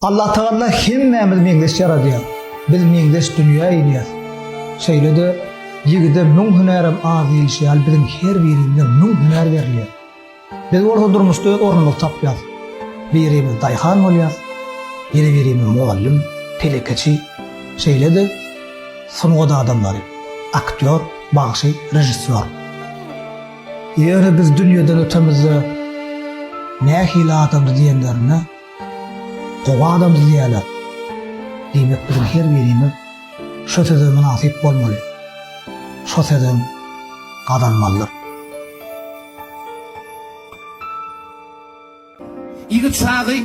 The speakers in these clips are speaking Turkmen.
Allah Tagalla hemmämiz meňzeş ýaradýar. Biz meňzeş dünýä inýäs. Şeýle-de ýigide müň hünärem az diýilişi ýaly biziň her birimize müň hünär berilýär. Biz bolsa durmuşda öz ornumyzy tapýas. Birimiz daýhan bolýas, ýene birimiz mugallym, telekeçi, şeýle-de sungat adamlary, aktýor, bagşy, režissýor. Ýöne biz dünýeden ötemizde nähili adamdy diýenlerinde, Gowy adam düzýärler. Diýmek biziň her birimiz şo söze mynasyp bolmaly. Şo sözem gazanmalydyr. Ýigit çagy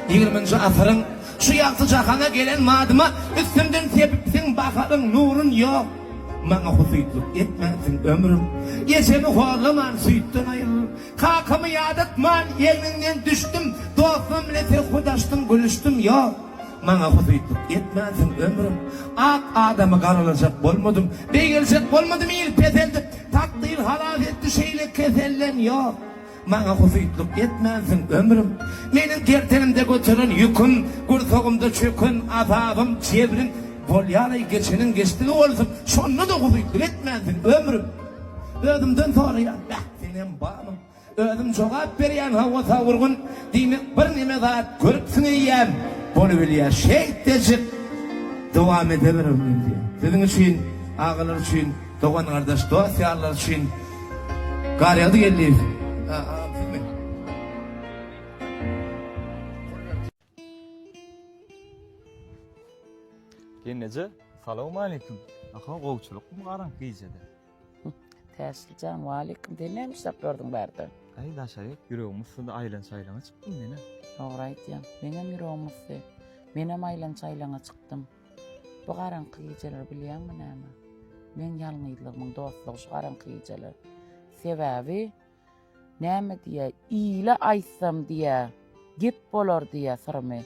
ýigriminji asyryň Şu ýagty jahana gelen madyma Üstümden sepipsiň baharyň nurun Ýok, maňa husytlyk etmänsiň ömrüm Ejemi horlaman süýtden aýrylyp Kakamy ýadatman egniňden düşdüm, Dostum bilen serhudaşdyň gülüşdim, Ýok, maňa husytlyk etmänsiň ömrüm, Ak adamy garalajak bolmadym, Beýgeljek bolmadym il peseldip, Takdyr halas etdi şeýle keselden, Ýok, maňa husytlyk etmänsiň ömrüm, Meniň gerdenimde göteren ýüküm, Gursagymda çöken azabym, jebrim, Bolýalaý geçeniň geçdigi bolsun, Şonda-da husytlyk etmänsiň ömrüm, Özümden soraýan. Senem bamyň? Özüm jogap berýän hawa Sagurgun diýmek bir neme zat görüpsiň eýýäm bolubilýär şeýtdejik dowam edebirin men diýen siziň üçin agalar üçin dogan gardaş dost ýarlar üçin gar ýagdy geldi. Gelneje, salawmaleýkim. Aha, gowçulykmy garaňky gijede? Täşli jan, waleýkim. Sen näme işläp durdyň bärde? Äý, Daşaýek, ýüregim ussydy, aýlan-çaýlana çykdym men-ä. Dogry aýdýaň. Meňem ýüregim usdy. Menem aýlan-çaýlana çykdym. Bu garaňky gijeler bilýäňmi näme? Meň ýalňyzlygymyň dostlugy şu garaňky gijeler. Sebäbi. Näme diýä, ile aýtsam diýä, gep bolar diýä syrymy,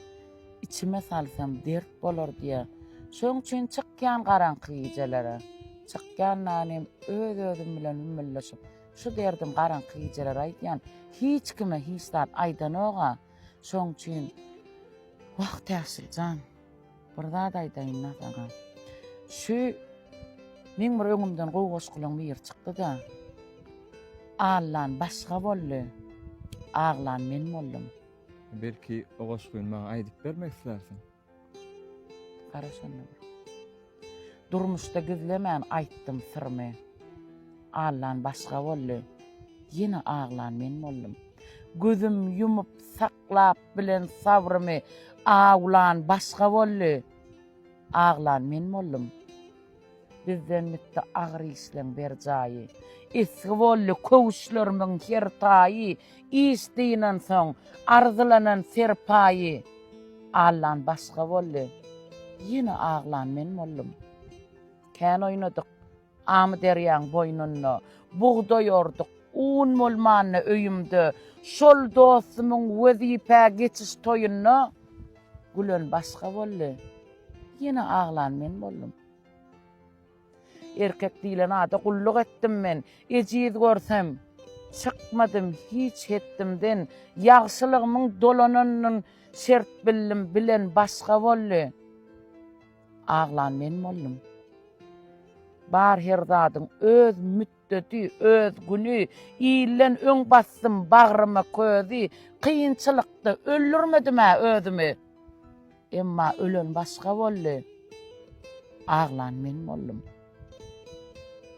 içime salsam dert bolar diýä. Şoň üçin çykýan garaňky gijelere. Çykýandan hem öz-özüm bilen hümmüldeşip, şu derdim garaňky gijeler aýdýan. Hiç kime hiç zat aýdanok-a. Şoň üçin, Wah, Täşli jan, Bir zat aýdaýyn-da saňa. Şu meň bir öňümden gowy goşgulaň biri çykdy-da. Allan başga boldy, aglan men boldum. Belki o goşgyny maňa aýdyp bermek islärsiň? Gara şonda bir. Durmuşda gizlemän aýtdym syrymy. Allan başga boldy, ýene aglan men boldum. Gözüm ýumup saklap bilen sabrymy, awlan başga boldy, aglan men boldum. Bizden gitdi agyr işleň bir jaýy, esgi boldy köwüşlerimiň her taýy. Iş dynansoň, arzylanan serpaýy allan başga boldy. Ýene aglan men boldum. Kän oýnadyk. Amyderýaň boýnunda bugdaý orduk. Un bolmanda öýümde şol dostumyň wezipä geçiş toýunda gülen başga boldy. Ýene aglan men boldum. Erkek diýlen ada gulluk etdim men, Ejiz görsem, çykmadym hiç hetdimden, Ýagşylygmyň dolananyn şert bildim, Bilen başga boldy, aglan men boldum. Bar her zadyň öz müt. Dödi, öz güni, ilden öň basdym bagryma közi, Kynçylykda öldürmedim-ä özümi. Emma ölen başga boldy, aglan men boldum.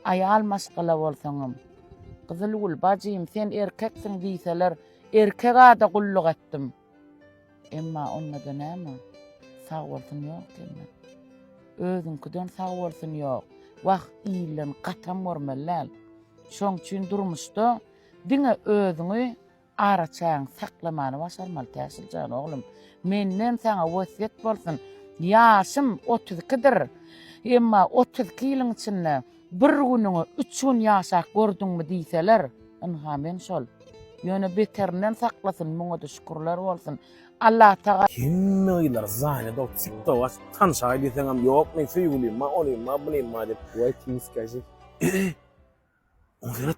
Aýal maşgala bolsaňam, Gyzylgül, bajym, sen erkeksiň diýseler, erkek ada gulluk etdim. Emma onda-da näme? Sag bolsun ýok diýme. Özüňkiden sag bolsun ýok. Wah, ilden gatam görmeli däl. Şoň üçin durmuşda diňe özüňi araçägiňi saklamany başarmaly Täşli jan oglum. Menden saňa wesýet bolsun. Ýaşym otuz ikidir. Emma otuz iki ýylyň içinde Bir günüňi üç gün ýaşap gördüňmi diýseler, ynha men şol. Ýöne beterinden saklasyn, muňa-da şükürler bolsun. Allatagala. Hemme gyzlar zanýadok tik tok açyp tanşaý diýseňem ýokmy söýgülimma onymma bunymma diýip. Waiting skazif. Özi özi. Oňa seret.